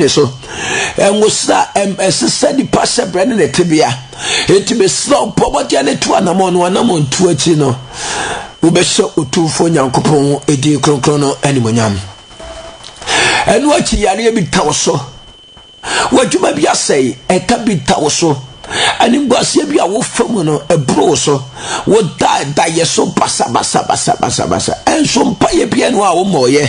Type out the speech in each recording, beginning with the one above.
ne so nwosra ɛsesa nipa hyɛbrɛ ne ne tebea enti mesrɛ bɔ mmɔden ne to anammɔn no anammɔn tu akyi no wobɛhyɛ otumfoɔ nyankopɔn ɛdin kronkron no animonyam ɛno akyi yareɛ bi ta wo so w'adwuma bi asɛe ɛka bi ta wo so animguaseɛ bi a wofa mu no ɛboro wo so woda dayɛ so basabasabasabasa ɛnso mpayɛ bia no a wommɔɔyɛ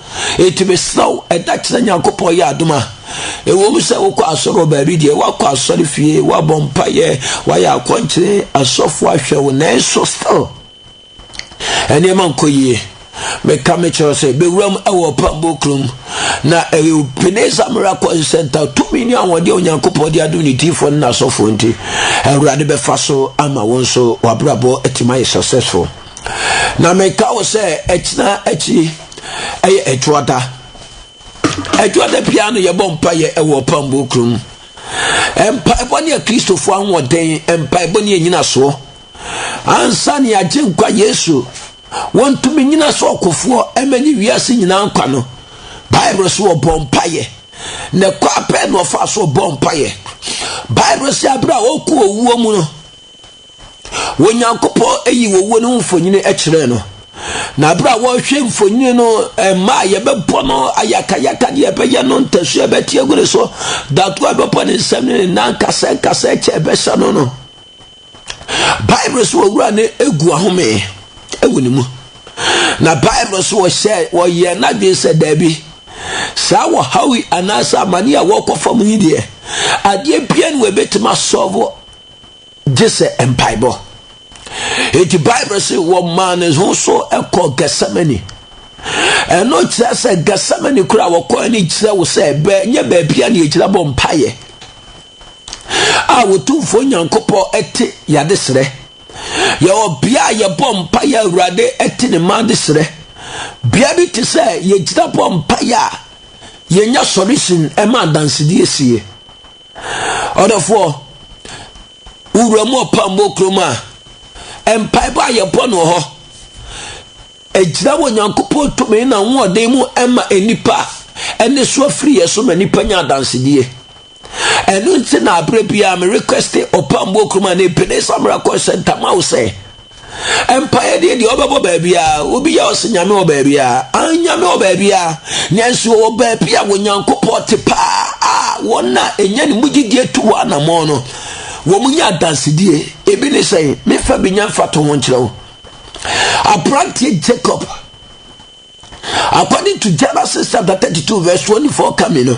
Enti mesrɛ wo, ɛda kyerɛ Nyankopɔn yɛ adom a, ɛwom sɛ wokɔ asɔre wɔ baabi deɛ, woakɔ asɔre fie, woabɔ mpaeɛ, woayɛ akɔnkyere, asɔfo ahwɛ wo, nanso still, nneɛma nkɔ yie. Meka mekyerɛ sɛ, bɛwuram ɛwɔ ɔpambo kurom, na ɛyɛ Ebenezer Miracle Center, tumi ne ahoɔden a Onyankopɔn de adom ne diifoɔ ne n'asɔfoɔ nti, Awurade bɛfa so ama wo nso, w'abrabɔ atim ayɛ successful. Na meka wo sɛ ɛkyena akyi ɛyɛ ɛtoada ɛtoada biara no yɛbɔ mpaeɛ ɛwɔ ɔpambuo kuro mu mpaebɔ ne akristofoɔ ahoɔden mpaebɔ ne anyinasoɔ ansa ne agye nkwa yesu wɔntumi nyina sɛ ɔkofoɔ ɛma ne wiase nyinaa nkwa no bible so wɔbɔ mpaeɛ na ɛkɔ apɛ na ɔfa so ɔbɔ mpaeɛ bible sɛ aberɛ a ɔkɔ owuo mu no Onyankopɔn ayi owuo no ho mfonini kyerɛɛ no. Na berɛ a wɔrehwɛ mfonini no, mmaa a yɛbɛbɔ no ayakayaka deɛ ɛbɛyɛ no ntasuo ɛbɛte agu ne so, datoɔ a ɛbɛbɔ ne nsam ne ne nan nkasɛɛ nkasɛɛ kyɛ ɛbɛhyɛ no no. Bible so owura no egu ahome wɔ ne mu. Na Bible so wɔhyɛ wɔyɛ n'adwene sɛ daabi. Saa wɔhaw yi anaasɛ amane a wɔkɔ fam yi deɛ, adeɛ bia ne wɔbɛtumi asɔvo gye sɛ mpaebɔ. Enti Bible se wɔmaa ne ho so kɔɔ Gethsemane. Ɛno kyerɛ sɛ Gethsemane kora a wɔkɔɛ no kyerɛ wo sɛ nyɛ baabi a ne yɛgyina bɔ mpaeɛ a wɔtumfoɔ Nyankopɔn ɛte yɛade serɛ. Yɛwɔ bea a yɛbɔ mpaeɛ Awurade ɛte ne mma de serɛ. Bea bi te sɛ yɛgyina bɔ mpaeɛ a yɛnya sɔre sin ɛma adansedie sie. Ɔdɔfoɔ, wo wura mu ɔpammɔ kurom a, mpaebɔ a yɛbɔ no hɔ, ɛgyina wɔ Nyankopɔn tumi na ahoɔden mu ɛma nnipa ɛne so afiri yɛ so ma nnipa nya adansedie. Ɛno nti na aberɛ biara me requeste ɔpammɔ kurom a ne Ebenezer Miracle Center ma wo sɛ, Mpaeɛ deɛ deɛ ɔbɛbɔ baabiara obi yɛ ɔsɛ nyame wɔ baabiara an nyame wɔ baabiara nanso wɔ baabi a wɔnyankopɔn te paa a wɔn a ɛnya ne mu gyidie to wɔ anammɔn no wɔn nyɛ adansedie ebi ne sɛn mefa bi nya mfa to ho nkyerɛ wo aberanteɛ jacob according to genesis chapter 32 verse 24 coming no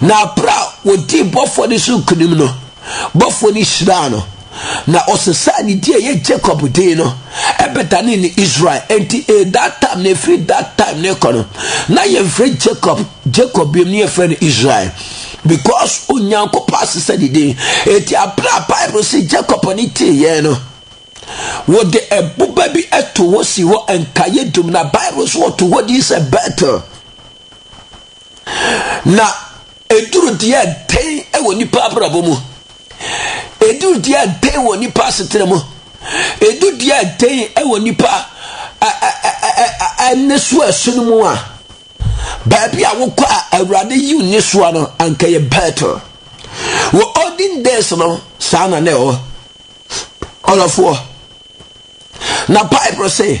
Na bere a wɔdii bɔfoɔ no so nkonim no, bɔfoɔ no hyiraa no, na ɔsesaa ne din a ɛyɛ Jacob din no ɛbɛdane ne Israel. Enti in that time na ɛfiri that time ne kɔ no, na yɛmfrɛ Jacob Jacob biom ne yɛfrɛ no Israel because Onyankopɔn asesa ne din. Enti abere a Bible si Jacob ne teeɛ no, wɔde ɛboba bi to hɔ si hɔ nkaeɛ dum na Bible so wɔto hɔ din sɛ Bethel. Na ɛduru deɛ dɛn wɔ nipa abrabɔ mu? Ɛduru deɛ dɛn wɔ nipa asetena mu? Ɛdu deɛ dɛn wɔ nipa ɛnɛ so ɛsono mu a? Baabi a wokɔ a Awurade yi wo ni soa no anka yɛ Bethel. Wɔ olden days no saa na na ɛwɔ. Ɔlɔfoɔ. Na Bible sɛ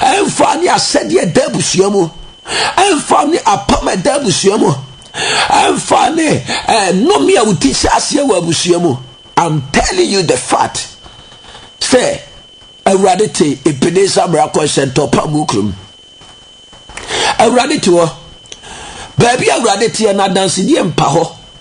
ɛmfa ne asɛdeɛ ɛda abusua mu ɛmfa ne apam a ɛda abusua mu ɛmfa ne eh, nnome a woti hyɛ aseɛ wɔ abusua mu i'm telling you the fact sɛ awurade te ebeneza miracle center pa mu kurom awurade te hɔ baabi awurade teɛ no adansedie mpa hɔ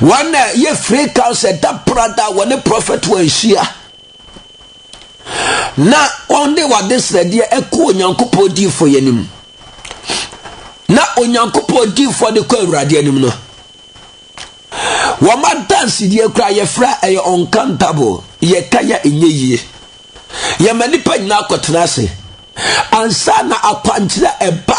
wɔn na yɛ free council ɛda prada a wɔne prɔfɛt wɔnhyia na wɔn de wɔde srɛdeɛ ɛkɔ onyankopɔn diifoɔ yɛ anim na onyankopɔn diifoɔ de kɔ awurade anim no wɔn adansedeɛ kura yɛfrɛ ɛyɛ uncountable yɛka yɛ ɛnyɛ yie yɛma nipa nyinaa kɔtena ase ansa na akwankyerɛ ɛba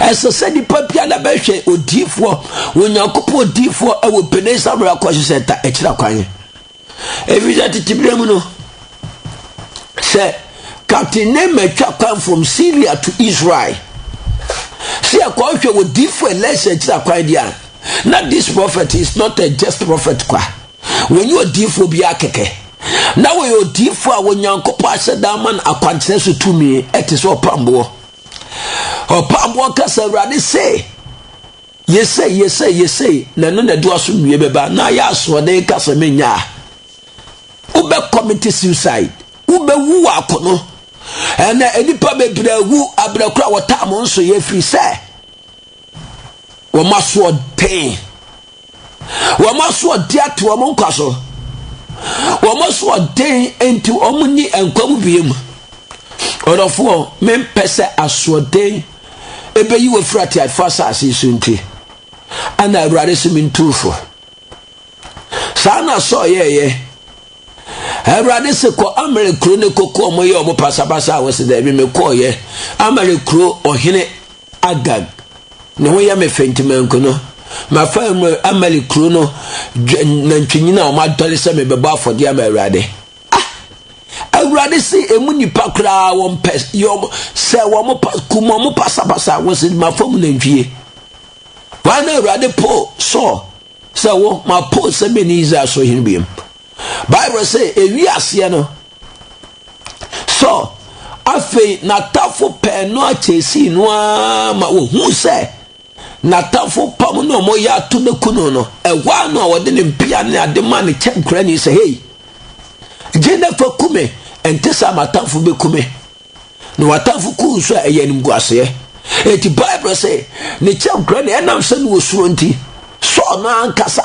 ɛsɛ sɛ nipa biara bɛhwɛ odiifoɔ onyankopɔn odiifoɔ wɔ pene samere akɔ so sɛ ta akyira kwan ɛfiri sɛ tete berɛ mu no sɛ captain ne matwa kwan from syria to israel sɛ ɛkɔhwɛ wɔ diifoɔ ɛlɛsɛ akyira kwan deɛ a na this prophet is not a just prophet kwa wɔnyɛ odiifoɔ biara kɛkɛ na wɔyɛ odiifoɔ a onyankopɔn ahyɛ da ama no akwankyerɛ so tumi ɛte sɛ ɔpamboɔ ɔpaboɔ kasa awurade sei yɛsei yɛsei yɛsei na ɛno na ɛde waso wie bɛba na ayɛ asoɔden kasa menya a wobɛ commit suicide wobɛwu wɔ akono ɛnɛ nnipa bebree wu abrɛ kora wɔtaa mo nso yɛ firi sɛ wɔn asoɔden wɔn asoɔden ate wɔn nkwa so wɔn asoɔden nti wɔn nyi nkwa mu bie mu ɔdɔfoɔ mempɛ sɛ asoɔden ɛbɛyi wɔ firi ateafoɔ asase so nti ana awurade se mentuufo saa na sɔɔ yɛɛyɛ awurade se kɔ amere kuro ne koko ɔmo yɛ ɔmo pasapasa a wɔsi dɛbi mekɔɔyɛ amere kuro ɔhene Agag, ne ho yɛ me fɛ nti manku no. Mafa Amalek kuro no nantwinini a wɔadɔre sɛ mebɛbɔ afɔdeɛ ama Awurade. Ah! Awurade se emu nnipa koraa wɔmpɛ sɛ wɔn kum wɔn pasapasa wɔ sɛ mafa mu nantwie. Wɔn na Awurade po Saul sɛ wo mapo sɛ mɛni Israel so hene biam. Bible sɛ ewi aseɛ no sɔ afei n'atafo pɛɛ no akyɛsii no ara ma wɔhu sɛ n'atafo pam no a wɔyɛ ato no ku no no ɛhɔ a no a wɔde ne mpea ne ade ma ne kyɛ nkurani sɛ hei gye na fa ku me ɛnte sɛ m'atafo bɛku me na w'atafo ku nso a ɛyɛ animguaseɛ eti bible sɛ ne kyɛ nkurani ɛnam sɛ no wɔ suro nti sɔɔ no ankasa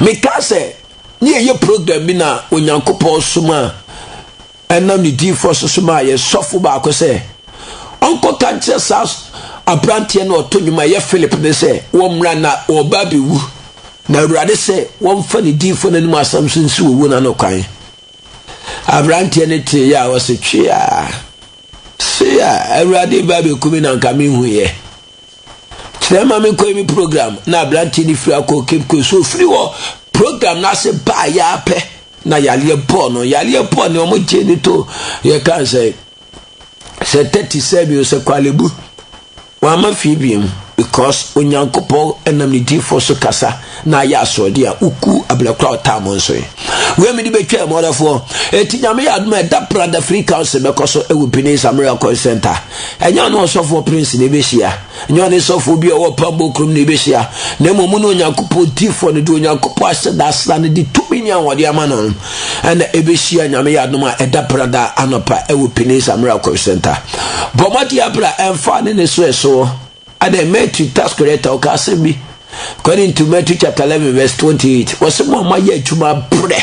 Mekaa sɛ, ne yɛyɛ program bi na Onyankopɔn somaa ɛnam ne diifoɔ so somaa yɛn sɔfo baako sɛ ɔnkɔka nkyerɛ saa aberanteɛ na ɔto nnwom a ɛyɛ Philip ne sɛ wɔmmra na ɔba abɛwu na Awurade sɛ wɔmfa ne diifoɔ no anim asɛm so nsi wɔwu no ano kwan. Aberanteɛ no tee yɛ a ɔse tweaa se a Awurade ba bɛkumi na nka menhuiɛ. kyerɛ ma me kɔɛ me program na aberanteɛ no firi akɔ cape coast so ɔfiri hɔ program no ase baa yɛa pɛ na yareɛ bɔɔ no yareɛ bɔɔ ne ɔmo gyee ne to yɛka sɛ sɛ tɛti sɛ bio sɛ kwalebu wama fie biom because onyankopɔn ɛnam ne diifoɔ so kasa na ayɛ asoɔden a woku abena kora ɔtaa mo nso wei mede bɛtwa mu ɔdɔfoɔ ɛti nyame yɛ adom a ɛda prada free council bɛkɔ so ɛwɔ pine samira kɔn center ɛnyɛ ɔne ɔsɔfoɔ prince na ɛbɛhyia ɛnyɛ ɔne sɔfoɔ bi a ɔwɔ pambo kurom na ɛbɛhyia na mmom mu ne onyankopɔn tifoɔ no de onyankopɔn ahyɛ da asra no de tumi ne ahoɔde ama no ɛna ɛbɛhyia nyame yɛ adom a ɛda prada anɔpa ɛwɔ pine samira kɔn center bɔmmɔde abra ɛmfa ne ne so ɛsoɔ Adɛn, Matthew tax collector ɔka asɛm bi according to Matthew chapter eleven verse twenty eight wɔsɛ mo a moayɛ adwuma brɛ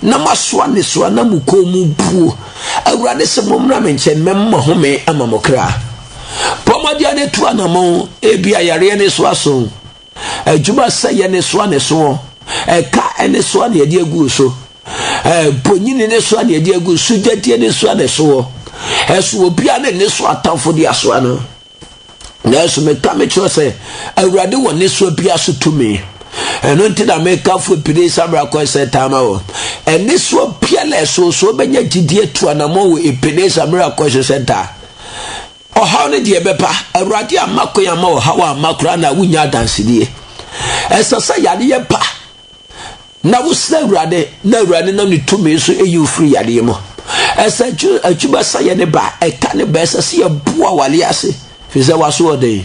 na moasoa nnesoa na mo kɔn mu buo Awurade sɛ mommra me nkyɛn mɛma home ama mo kra bɔ mmɔdeɛ ne to anamɔn ebi ayareɛ ne so aso adwuma sɛ yɛ ne soa ne soɔ ɛka ɛne soa ne ɛde agu so bonyini ne soa ne ɛde agu so gyadie ne soa ne soɔ ɛso obiara ne ne so atamfo de asoa no Nanso meka mekyerɛ sɛ, Awurade wɔ nnesoa biara so tumi. Ɛno nti na meka fo pini samra kɔɛ sɛ taa ma wɔ. Nnesoa biara a ɛsoosoo bɛnya gyidie tu anamɔ wɔ epini samra kɔɛ so sɛ taa. Ɔhaw no deɛ ɛbɛpa. Awurade amma kwan amma ɔhaw amma koraa na wonya adansedie. Ɛsɛ sɛ yare yɛ pa. Na wosrɛ Awurade, na Awurade nam ne tumi so eyi wo firi yadeɛ mu. Ɛsɛ akyi akyi bɛsa yɛ ne ba ɛta ne ba ɛsɛ sɛ yɛboa awale ase firi sɛ waso ɔden.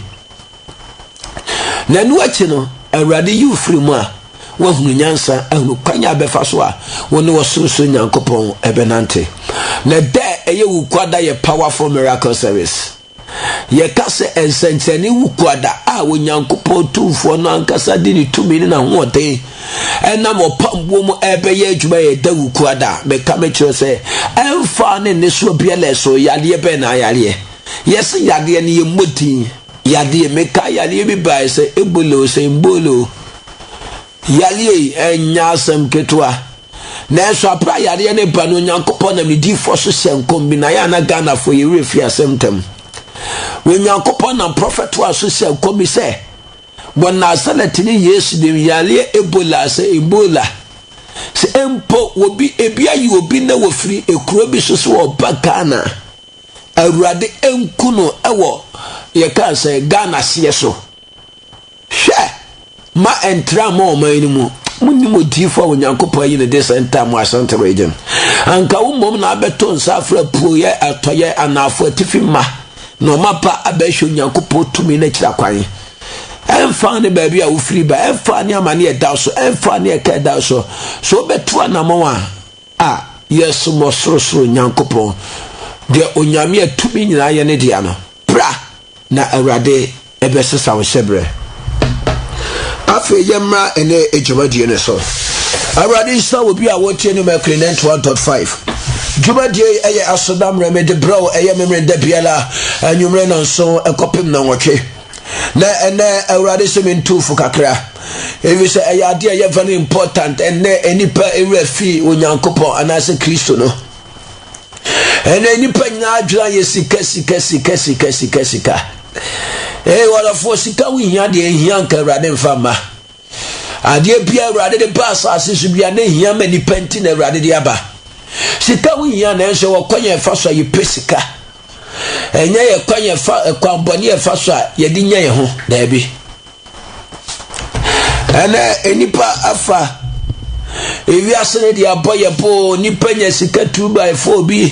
Na ɛno akyi no, Awurade yi wo firi mu a, woahunu nyansa, ahunu kwan a bɛfa so a wo ne ɔsorosoro Nyankopɔn ɛbɛnante. Na da a ɛyɛ wo kuada yɛ powerful miracle service. Yɛka sɛ nsɛnkyerɛnne wu kuada a Onyankopɔn Tumfoɔ no ankasa de ne tumi ne n'ahoɔden ɛnam ɔpam buo mu ɛrebɛyɛ adwuma yɛ da wu kuada a, meka mekyerɛ sɛ ɛmfa ne nnesoa biara ɛso yadeɛ bɛn na ayareɛ. Yɛse yadeɛ no yɛmmɔ din yadeɛ. Meka yadeɛ bi baeɛ sɛ Ebola o, sɛ Mbola o. Yareɛ yi nyɛ asɛm ketewa. Nanso aberɛ a yareɛ no ba no, Onyankopɔn nam ne diyifoɔ so hyɛɛ nkɔm bi, na ayɛ a na Ghanafoɔ yɛ werɛ firi asɛm ntɛm. Onyankopɔn nam prɔfɛtoa so hyɛɛ nkɔm bi sɛ, wɔ Nasaretni Yesu din, yareɛ Ebola, sɛ Ebola, sɛ mpo obi, ebi ayi obi na wɔfiri ekuro bi so sɛ ɔba Ghana a, Awurade nku no wɔ, yɛka sɛ Ghana seɛ so. Hwɛ! Mma ɛntra mma ɔman no mu. Monnim odiyifo a Onyankopɔn ayi no de saa ntam wɔ Asante Region? Anka wo mmom na abɛto nsa afrɛ apueeɛ, atɔeɛ, anaafo, atifi mma nnoɔma pa abɛhwɛ Onyankopɔn tumi no akyira kwan. Ɛmfa ne baabi a wofiri ba, ɛmfa ne amane ɛda wo so, ɛmfa ne ɛka ɛda wo so, sɛ wobɛtu anammɔn a, a, yɛsom Ɔsorosoro Nyankopɔn, deɛ Onyame a tumi nyinaa yɛ ne dea no. Bra, na Awurade bɛsesa wo hyɛberɛ. Afei yɛmmra ɛnnɛ dwumadie no so. Awurade nhyira wɔ bi a wɔtie no Mercury 91.5. Dwumadie yi ɛyɛ asodammerɛ mede berɛ wo ɛyɛ memmerɛ da biara anwummerɛ nanso ɛkɔpem na nwɔtwe. Na ɛnɛ Awurade sɛ mentuufo kakra. Ɛfiri sɛ ɛyɛ adeɛ ɛyɛ very important ɛnɛ nnipa ɛwura fi Onyankopɔn anaasɛ Kristo no. ɛnna nnipa nyinaa adwene yɛ sika sika sika sika sika sika ee wɔdɔfoɔ sika ho hia deɛ hia nka awurade mfa mma adeɛ bia awurade de ba asase so bia ne hia ma nnipa nti na awurade de aba sika ho hia nanso wɔ kwan yɛn fa so a yɛpɛ sika ɛnyɛ yɛ kwan yɛn fa kwan bɔne yɛn fa so a yɛde nya yɛn ho daabi. Ɛnɛ nnipa afa ewiase no de abɔ yɛ boo nnipa nya sika two by four bi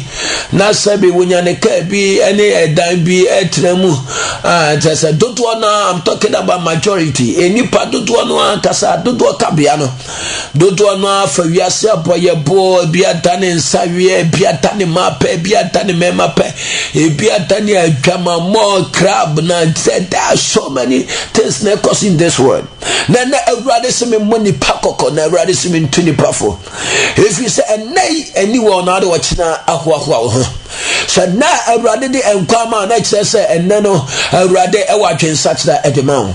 na sɛbi wonya ne kaa bi ne ɛdan bi ɛtena mu kyɛ sɛ dodoɔ no a i'm talking about majority nnipa dodoɔ no ankasa dodoɔ kabea no dodoɔ no ara fa wiase abɔyɛboɔ ebi ada ne nsa weɛ ebi ada ne ma pɛ ebi ada ne mɛma pɛ ebi ada ne adwamammɔ crab na sɛ there are so many things na ɛkɔ so in this world na na awurade sɛ me mmɔ nipa kɔkɔ na awurade sɛ me ntu nipa fo ɛfiri sɛ ɛnɛ yi ɛni wɔn na ade wɔkyena ahoahoa wo ho sɛ na awurade de nkwa ma na kyerɛ sɛ ɛnɛ no awurade ɛwɔ adwensakyera ɛde ma wo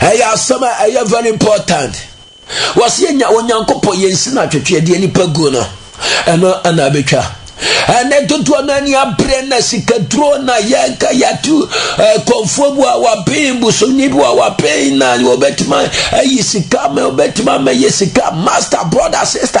ɛyɛ asɛm a ɛyɛ very important wɔsi enya onyankopɔn yɛn si na twetwe deɛ nipa gu no ɛno ɛna abɛtwa ɛnɛ dodoɔ no ani abere na sikaduro na yɛnka yɛatu kɔnfoɔ bu a wapen busoni bi a wapen na wɔbɛtumi ayi sika ma wɔbɛtumi ama yɛ sika master brother sister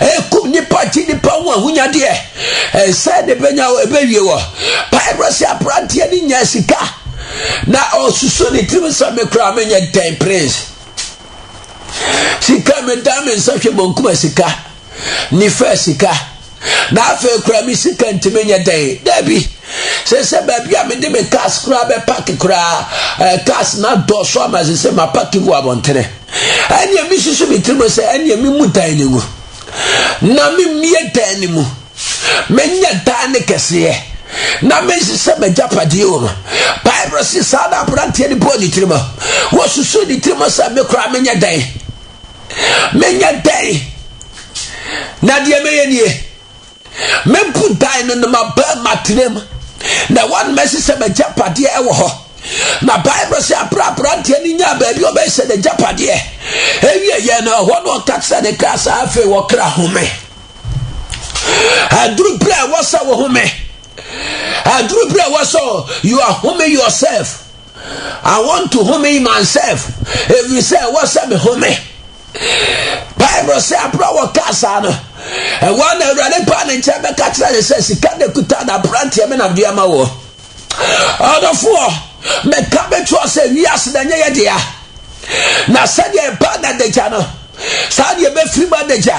ɛkum nipa gye nipa ho ahonyadeɛ ɛnsɛ ne bɛnya hɔ ɛbɛwie wɔ bible sɛ aberanteɛ ne nya sika na ɔsusu ne tirim sɛ me koraa menyɛ dɛn prince sika meda me nsa hwɛ mɔnkuma sika nifa sika na afei koraa me sika ntumi nyɛ dɛn daabi sɛ sɛ baabi a mede me cars koraa bɛpake koraa cars na dɔɔso ama sɛ sɛ mapake gu abɔntene Ɛnneɛ mesusu me tirim sɛ, ɛnneɛ memmu tan no ngu, na memmue tan no mu, menyɛ dan no kɛseɛ, na mensesa m'agyapadeɛ wɔ mu. Bible se saa na aberanteɛ no bɔɔ ne tirim. Wɔsusu ne tirim sɛ, me koraa menyɛ dan, menyɛ dan, na deɛ mɛyɛ nie. Mɛbu dan no ne m'abaamma tenam, na wɔn mɛsi sɛ m'agyapadeɛ wɔ hɔ. Na Bible sɛ abere aberanteɛ no nyaa baabi a ɔbɛhyɛ n'agyapadeɛ. Ewie yɛ no ɛhɔ na ɔka kyerɛ ne kra sɛ afei wɔkra home. Aduru berɛ a ɛwɔ sɛ wo home. Aduru berɛ a ɛwɔ sɛ you are homing yourself. I want to home myself. Ɛfiri sɛ ɛwɔ sɛ me home. bible sɛ aberɛ a wɔkaa saa no ɛwɔ a na awurade paa ne nkyɛn bɛka kyerɛ ne sɛ sika na ɛkuta na aberanteɛ me na mede ama wɔ ɔdɔfoɔ meka bɛtoɔ sɛ wiase na ɛnyɛ yɛ dea na sɛdeɛ ɛba na adagya no saa deɛ ɛbɛfiri mu adagya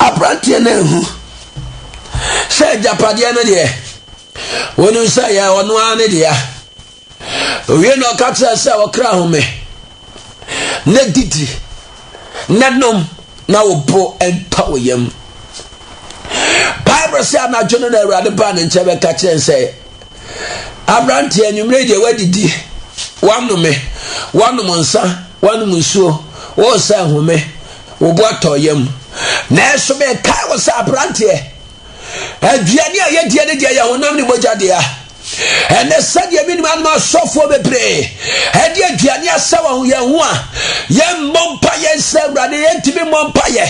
Aberanteɛ no anhu sɛ agyapadeɛ no deɛ, wonim sɛ yɛ ɔno ara ne dea. Owie na ɔka kyerɛ sɛ ɔkra home na didi na nom na wo bo ntɔ wo yam. Bible sɛ anadwo no na Awurade baa ne nkyɛn bɛka kyerɛ sɛ Aberanteɛ, anwummerɛ yi deɛ woadidi, woanome, woanom nsa, woanom nsuo, woresa ahome, wo bo atɔ yam. Nanso mekae wo sɛ aberanteɛ, aduane a yɛdie no deɛ yɛ honam ne mogya dea. Ɛnɛ sɛdeɛ menim anom asɔfoɔ bebree ɛde aduane asɛ wɔn yɛn ho a yɛmmɔ mpaeɛ nsɛ awurade yɛntumi mmɔ mpaeɛ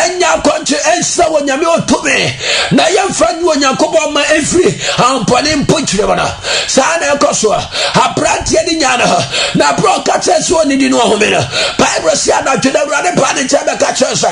ɛnyɛ akɔnkye ɛnsɛ wɔ nyame ɔtumi na yɛmfa nyi onyankopɔn ma ɛmfiri ahompɔne mpokyerɛ mu no saa na ɛkɔ soɔ aberanteɛ no nyaa no na berɛ ɔka kyerɛ sɛ ɔnidi no ɔhome no bible sɛ anadwo na awurade baa ne nkyɛn bɛka kyerɛ sɛ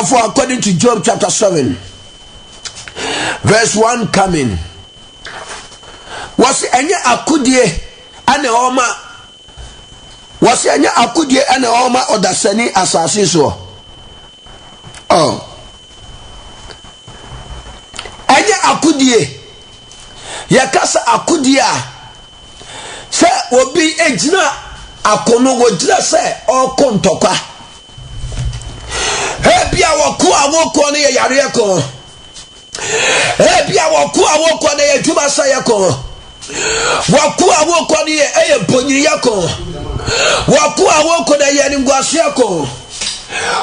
Therefore, according to Job chapter 7, verse 1 coming, wɔsi ɛnyɛ akodie ɛna ɔma wɔsi ɛnyɛ akodie ɛna ɔma ɔdasani asase soɔ. Oh. ɛnyɛ akodie yɛkasa akodie a sɛ obi gyina ako no wɔgyina sɛ ɔreko ntɔkwa ebi a wɔko a wɔko no yɛ yareɛ ko ebi a wɔko a wɔko no yɛ adwuma sɛeɛ ko wɔko a wɔko no yɛ ɛyɛ bonyiyɛ ko wɔko a wɔko no yɛ ne nguaseɛ ko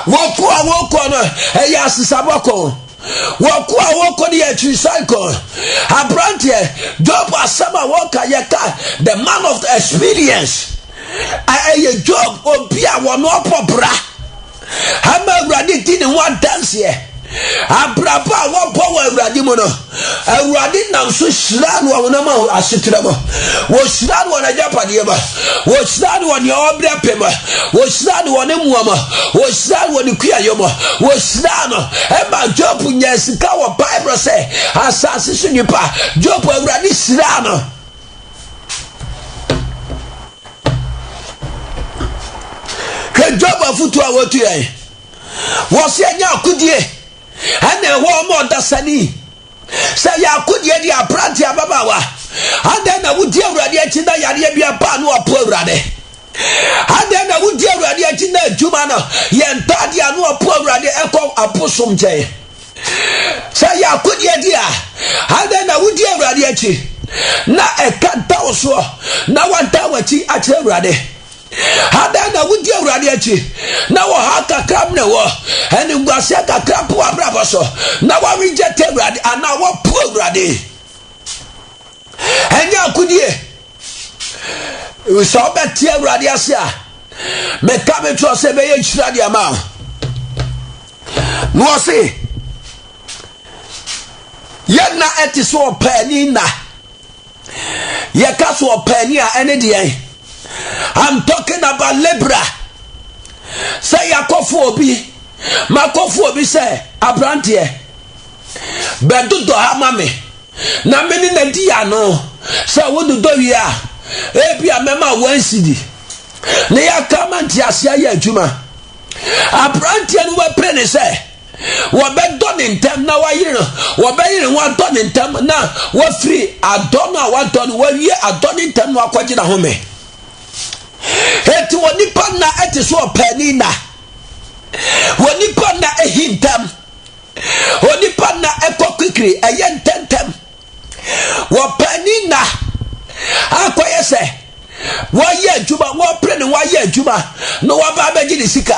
wɔko a wɔko no ɛyɛ asesabɔ ko Wɔko a wɔko no yɛ akyirisan ko. Aberanteɛ, Job asɛm a wɔka yɛka the man of the experience. Ɛyɛ Job obi a wɔn ɔpɔ bra ama Awurade di ne ho adanseɛ. Abrabɔ a wɔbɔ wɔ Awurade mu no, Awurade nam so hyira no ɔhonam asetra mu. Wɔhyira no wɔn agyapadeɛ mu. wɔhyira no wɔ nea ɔbrɛ pɛ mu wɔhyira no wɔ ne mmoa mu wɔhyira no wɔ ne kuayɔ mu wɔhyira no ɛma job nya sika wɔ bible sɛ asase so nipa job awurade hyira no hwɛ job afotu a wɔtu yɛn wɔsɛ ɛnyɛ akodie ɛna ɛwɔ ɔma ɔdasani Sɛ yɛ akodeɛ deɛ aberanteɛ ababaawa adɛn na wodi awurade akyi na yareɛ bi aba no apo awurade adɛn na wodi awurade akyi na adwuma no yɛ ntaadeɛ ano apo awurade ɛkɔ abosom nkyɛn sɛ yɛ akodeɛ di a adɛn na wodi awurade akyi na ɛka nta wo soɔ na wanta w'akyi akyerɛ awurade Adɛn na wodi Awurade akyi na wɔ ha kakra mene wɔ animguaseɛ kakra po abrabɔ so na wɔrejɛte Awurade anaa wɔpo Awurade? Ɛnyɛ akodie. Sɛ wobɛte Awurade ase a, meka me kyerɛ sɛ ɛbɛyɛ nhyira de ama wo. Na wɔse, yɛn nna ɛte sɛ ɔpaani nna. yɛka so ɔpaani a ɛne deɛn i'm talking about libra sɛ yɛakɔfo obi makɔfo obi sɛ aberanteɛ bɛdodɔ ha ma me na me ne na di ano sɛ wododɔ wie a ebi a mɛma wansidi ne yɛaka ma nteaseɛ yɛ adwuma aberanteɛ no wapɛ ne sɛ wɔbɛdɔ ne ntɛm na wɔayere no wɔbɛyere ho adɔ ne ntɛm na wɔafiri adɔ no a wɔadɔ no wɔawie adɔ ne ntɛm na wɔakɔgye n'ahome eti wɔ nipa nna ɛte so ɔpɛni nna wɔ nipa nna ehi ntɛm wɔ nipa nna ɛkɔ kwikiri ɛyɛ ntɛntɛm wɔ pɛni nna akɔyɛ sɛ wɔayɛ adwuma wɔpere ne wɔayɛ adwuma na wɔaba abɛgye ne sika.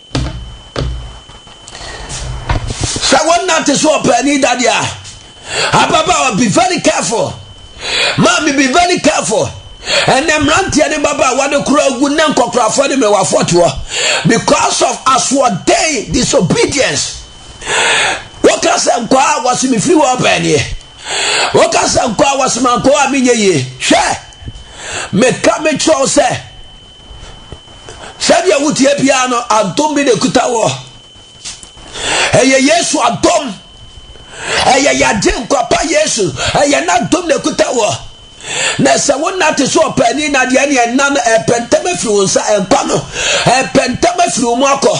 sɛ wonante so ɔpaani dadeɛ a ababaawa be very careful maame be very careful ɛnɛ mmeranteɛ ne babaawa ne kora agu ne nkɔkorafoɔ ne mmewafoɔ toɔ because of asoɔden disobedience woka sɛ nkɔa a wɔse mefiri wɔ ɔpaaniɛ woka sɛ nkɔa wɔse mankɔa a menyɛ yie hwɛ meka mekyerɛw sɛ Sɛdeɛ woteɛ biara no, adom bi na ɛkuta wɔ. Ɛyɛ Yesu adom. Ɛyɛ yɛagye nkwapa Yesu. Ɛyɛ n'adom na ɛkuta wɔ. Na sɛ wonna te so ɔpaani nadeɛ ne ɛnna no ɛpɛntɛm afiri wo nsa ɛnkwa no ɛpɛntɛm afiri wo mu akɔ.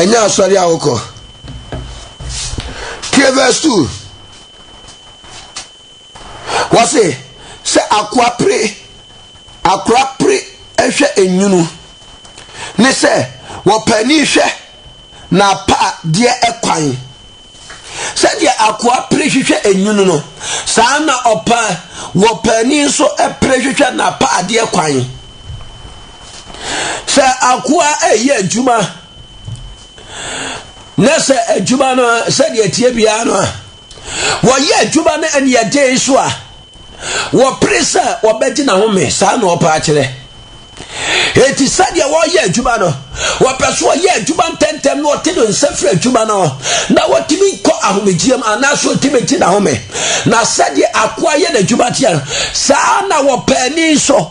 ɛnyɛ asɔre a wokɔ tie verse two wɔse sɛ akoa pere akora pere hwɛ enwunu ne sɛ wɔpɛ ani hwɛ na apa deɛ ɛkwan. Sɛdeɛ akoa pere hwehwɛ enwunu no, saa ara na ɔpa wɔpaani nso pere hwehwɛ n'apaadeɛ kwan. Sɛ akoa reyɛ adwuma na sɛ adwuma no sɛdeɛ ɛteɛ biara no a, wɔyɛ adwuma no aniɛden so a, Wɔpere sɛ wɔbɛgye n'ahome, saa na ɔpɛ akyerɛ. Enti sɛdeɛ wɔreyɛ adwuma no, wɔpɛ so ɔyɛ adwuma ntɛntɛm na ɔte ne nsa firi adwuma no na wɔtumi kɔ ahomegyeɛm anaasɛ ɔtumi gye n'ahome. Na sɛdeɛ akoa yɛ n'adwuma teɛ no, saa na wɔpɛ ani nso.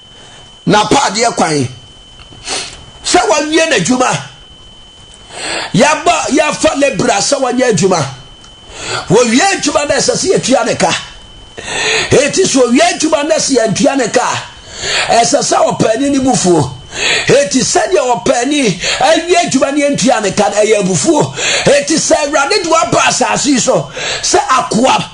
n'apaadeɛ kwan sɛ wawie n'adwuma yɛabɔ yɛafa lebra sɛ wanyɛ adwuma wɔwie adwuma no ɛsɛ sɛ yɛtua ne ka ɛti sɛ ɔwie adwuma no sɛ yɛntua ne ka ɛsɛ sɛ ɔpaani ne bufuo ɛti sɛdeɛ ɔpaani awie adwuma no yɛntua ne ka no ɛyɛ abufuo ɛti sɛ awurade de waba asase so sɛ akoa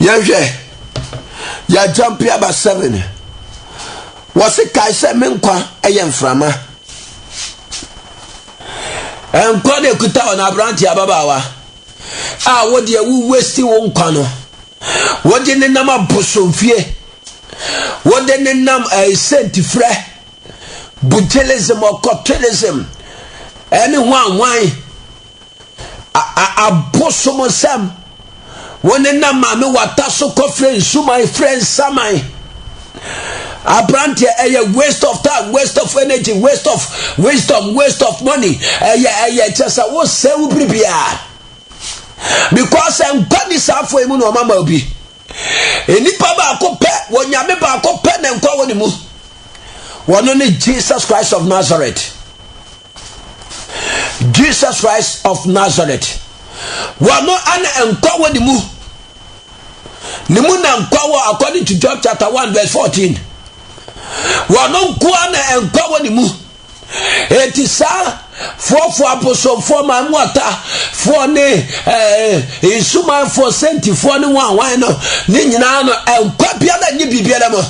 yɛhwɛ yɛagyampe aba seven wɔse kae sɛ me nkwa yɛ mframa nkwa na ɛkuta wɔn aberante ababaawa a wodeɛ wo westi wo nkwa no wode ne nam abosomfie wode ne nam ɛsɛntifrɛ eh, bujelism ɔkɔtwelism ɛne ho anwan abosomsɛm wo ne na maame wata so kɔfrɛ nsuman frɛ nsaman aberanteɛ ɛyɛ waste of time waste of energy waste of wisdom waste of money ɛyɛ ɛyɛ kyɛ sɛ wosɛ wo biribiaa because nkwa ni saa afo yi mu na ɔma ma obi nnipa baako pɛ wɔ nyame baako pɛ na nkwa wɔ ne mu wɔno ne jesus christ of nazareth Jesus Christ of Nazareth. Wɔno ana nkwa wɔ ne mu. Ne mu na nkwa wɔ according to John chapter 1 verse 14. Wɔno nko ana nkwa wɔ ne mu. Enti saa foɔfoɔ abosomfoɔ ma mu ata foɔ ne eh, nsumanfoɔ sɛntifoɔ ne wɔn awan no ne nyinaa no nkwa biara nye biribiara mu.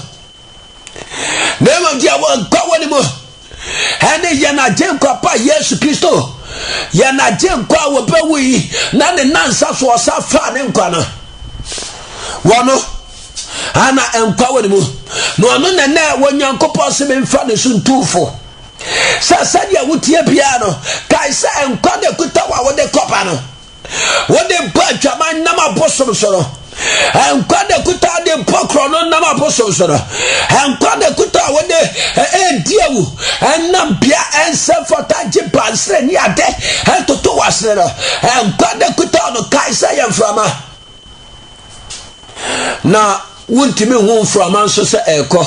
na mmom deɛ wɔnkɔ wɔ ne mu ɛne yɛn agyenkwa pa yesu kristo yɛn agyenkwa a wɔbɛwu yi na ne nansa so ɔsa faa ne nkwa no wɔno ana nkwa wɔ ne mu na ɔno na nɛ wɔ nyankopɔn se memfa ne so ntumfo sɛ sɛdeɛ wotie biara no kae sɛ nkwa na ɛkuta wo a wode kɔba no wode bɔ adwaman nam abosom so no nkwa na kuta a de bɔ korɔ no nam abosom so no nkwa na kuta a wode ɛredi awu ɛnam bea ɛnsɛ fata gye bansere ne ade ɛtoto wasere no nkwa na kuta no kae sɛ yɛ mframa na wontumi hu mframa nso sɛ ɛrekɔ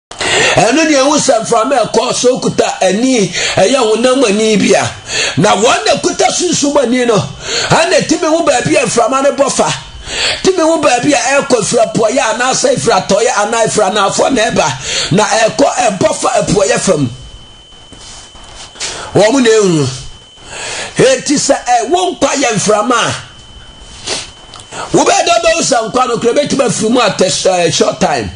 ɛno deɛ ɛho sɛ mframa ɛkɔ so kuta ani ɛyɛ honam ani bi a na wɔn na kuta sunsum ani no ɛna ɛtumi ho baabi a mframa no bɔ fa tumi ho baabi a ɛkɔ efiri apuɔyɛ anaasɛ efiri atɔyɛ anaa efiri anaafɔ na ɛba na ɛkɔ ɛbɔ fa apuɔyɛ fam wɔn na ehu. Enti sɛ ɛ wo nkwa yɛ mframa a, wobɛyɛ dɛ wobɛhu sɛ nkwa no kora bɛtumi afiri mu at a short time.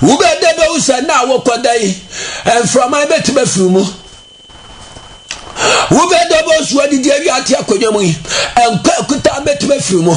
Wobɛyɛ dɛ wobɛhu sɛ na wokɔda yi, mframa yi bɛtumi afiri mu. Wobɛyɛ dɛ wobɛhu sɛ wadidi awi ate akonnwa mu yi, nkwa akuta bɛtumi afiri mu.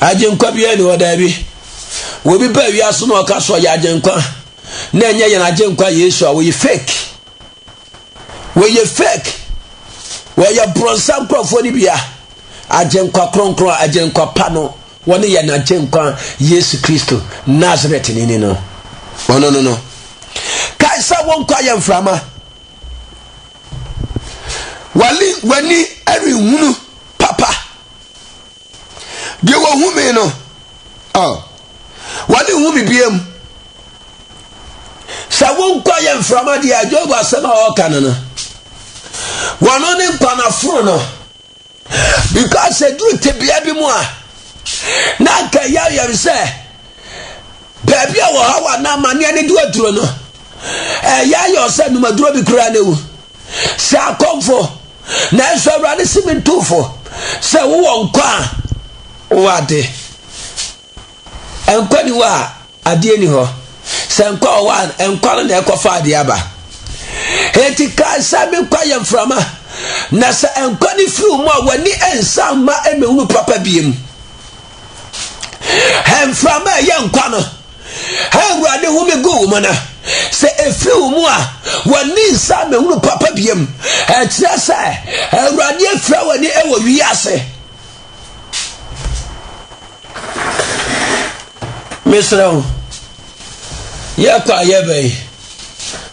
Agyenkwa biara nni hɔ, daabi. Wɔ obi pɛ a wiase no ɔka so ɔyɛ agyenkwa, na ɛnyɛ yɛn agyenkwa Yesu a, wɔyɛ fake. Wɔyɛ fake. Wɔyɛ borɔnsa nkurɔfoɔ no bia. Agyenkwa kronkron, agyenkwa pa no, wɔne yɛn agyenkwa Yesu Kristo, Nazareth ni ni no. Ɔno no no. Kae sɛ wɔnkɔ ayɛ mframa. W'ani renhunu papa. deɛ wɔhu me no wɔne hu me bia mu sɛ wonkɔ yɛ mframa deɛ job asɛm a ɔka no no wɔno ne nkwanaforo no because ɛduru tebea bi mu a na anka ɛyɛ ayɛm sɛ baabi a wɔha wɔ anaa amanneɛ ne de aduro no ɛyɛ ayɛ sɛ numaduro bi koraa na ɛwu Sɛ akɔmfo, nanso Awurade se mentu fo. Sɛ wowɔ nkwa a, wowɔ ade. Nkwa ni hɔ a, adeɛ ni hɔ. Sɛ nkwa wɔ hɔ a, nkwa no na ɛkɔfa adeɛ aba. Enti kae sɛ me nkwa yɛ mframa, na sɛ nkwa no firi wo mu a, w'ani nsa mma mmɛhunu papa biem. Mframa a ɛyɛ nkwa no a Awurade home guu wo mu no, sɛ ɛfiri wo mu a, w'ani nsa mɛhunu papa biam. Ɛkyerɛ sɛ Awurade afira w'ani wɔ wiase. Mesrɛ wo, yɛkɔ a yɛbɛn,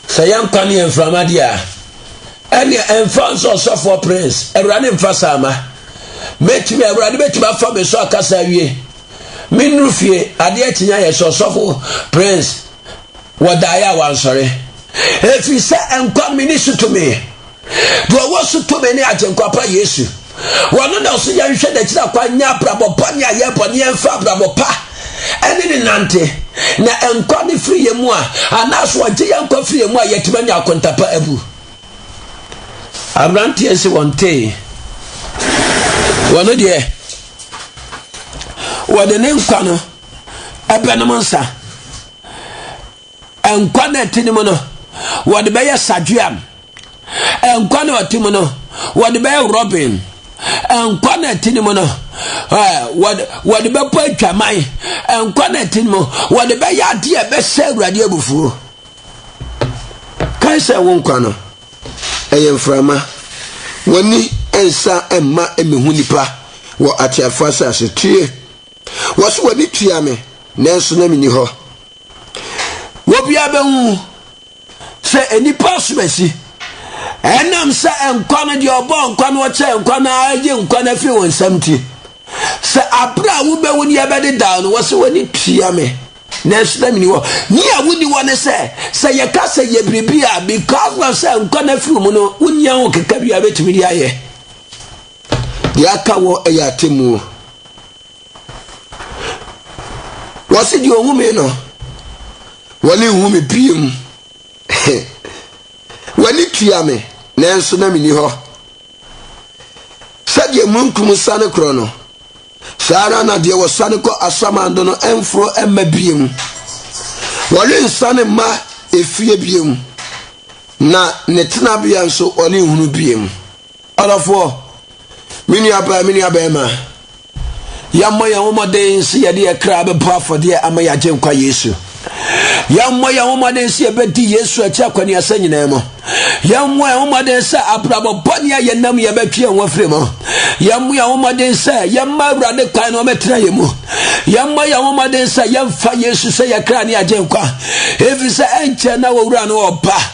sɛ yɛnkwa ne yɛ mframa deɛ a, Ɛnneɛ ɛmfa nso ɔsɔfoɔ Prince, Awurade mfa saa ma. Mɛtumi, Awurade bɛtumi afa me so akasa awie. Me nnuru fie, adeɛ kye ayɛ sɛ ɔsɔfo Prince wɔ daeɛ a wansɔre. Ɛfiri sɛ nkwa me ni so tumi. Deɛ ɔwɔ so tumi ne Agyenkwa pa Yesu. Wɔn na ɔso yɛnhwɛ n'akyiri akwan nyɛ abrabɔ bɔne a yɛbɔ ne yɛmfa abrabɔ pa ɛne ne nante na nkwa ne firi yɛn mu a anaasɛ ɔgye yɛn nkwa firi yɛn mu a yɛtumi anya akontapa abu aberanteɛ nse wɔn tee wɔn deɛ wɔde ne nkwa no ɛbɛnom nsa Nkwa na ɛte ne mu no, wɔde bɛyɛ Sajuam. Nkwa na ɔte mu no, wɔde bɛyɛ Robin. Nkwa na ɛte ne mu no, wɔde bɛbɔ adwaman. Nkwa na ɛte ne mu, wɔde bɛyɛ adeɛ a ɛbɛhyɛ Awurade abufuo. Kae sɛ wo nkwa no, ɛyɛ mframa. W'ani nsa mma mmehu nnipa wɔ ateafoɔ asase. Tie! Wɔse w'ani tua me, nanso na menni hɔ. Obiara bɛhu sɛ nnipa asom asi. Ɛnam sɛ nkwa no deɛ ɔbɔɔ nkwa no ɔkyɛ nkwa no agye nkwa no afiri wɔn nsam nti, sɛ abere a wobɛwu ne yɛbɛde daa no wɔ sɛ w'ani tua me nanso na meni hɔ. Ne a wonni hɔ ne sɛ, sɛ yɛka sɛ yɛ biribi a, because of sɛ nkwa no afiri mu no, wonnya ho keka bi a wobɛtumi de ayɛ. Deɛ aka wɔ ɛyɛ atemmuo. Wɔse deɛ ɔhu me no, wɔne nhu me biem. W'ani tua me, nanso na menni hɔ. Sɛdeɛ mununkum sane korɔ no, saa ara na deɛ wɔsane kɔ asamando no mforo mma biem. Wɔrensane mma efie biem, na ne tenabea nso wɔrenhunu biem. Ɔdɔfoɔ, me nua baa, me nua bɛɛma, yɛmmɔ yɛn ho mmɔden sɛ yɛde yɛ kra bɛbɔ afɔdeɛ ama yɛ agyenkwa Yesu. Yɛmmɔ yɛn ho mmɔden sɛ yɛbɛdi Yesu akyi akɔneasa nyinaa mu. Yɛmmɔ yɛn ho mmɔden sɛ abrabɔ bɔne a yɛnam yɛbɛtwe yɛn ho afiri mu. Yɛmmɔ yɛn ho mmɔden sɛ yɛmma Awurade kwan na ɔmɛtena yɛn mu. Yɛmmɔ yɛn ho mmɔden sɛ yɛmfa Yesu sɛ yɛ kra ne agyenkwa. Ɛfiri sɛ ɛnkyɛ na wɔwura no ɔba.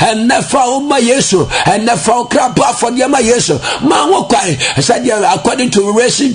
ɛnɛ fa wo ma yesu ɛnɛ fa wo kra bɔ afɔdeɛ ma yesu ma wo kwan sɛdeɛ according to revelation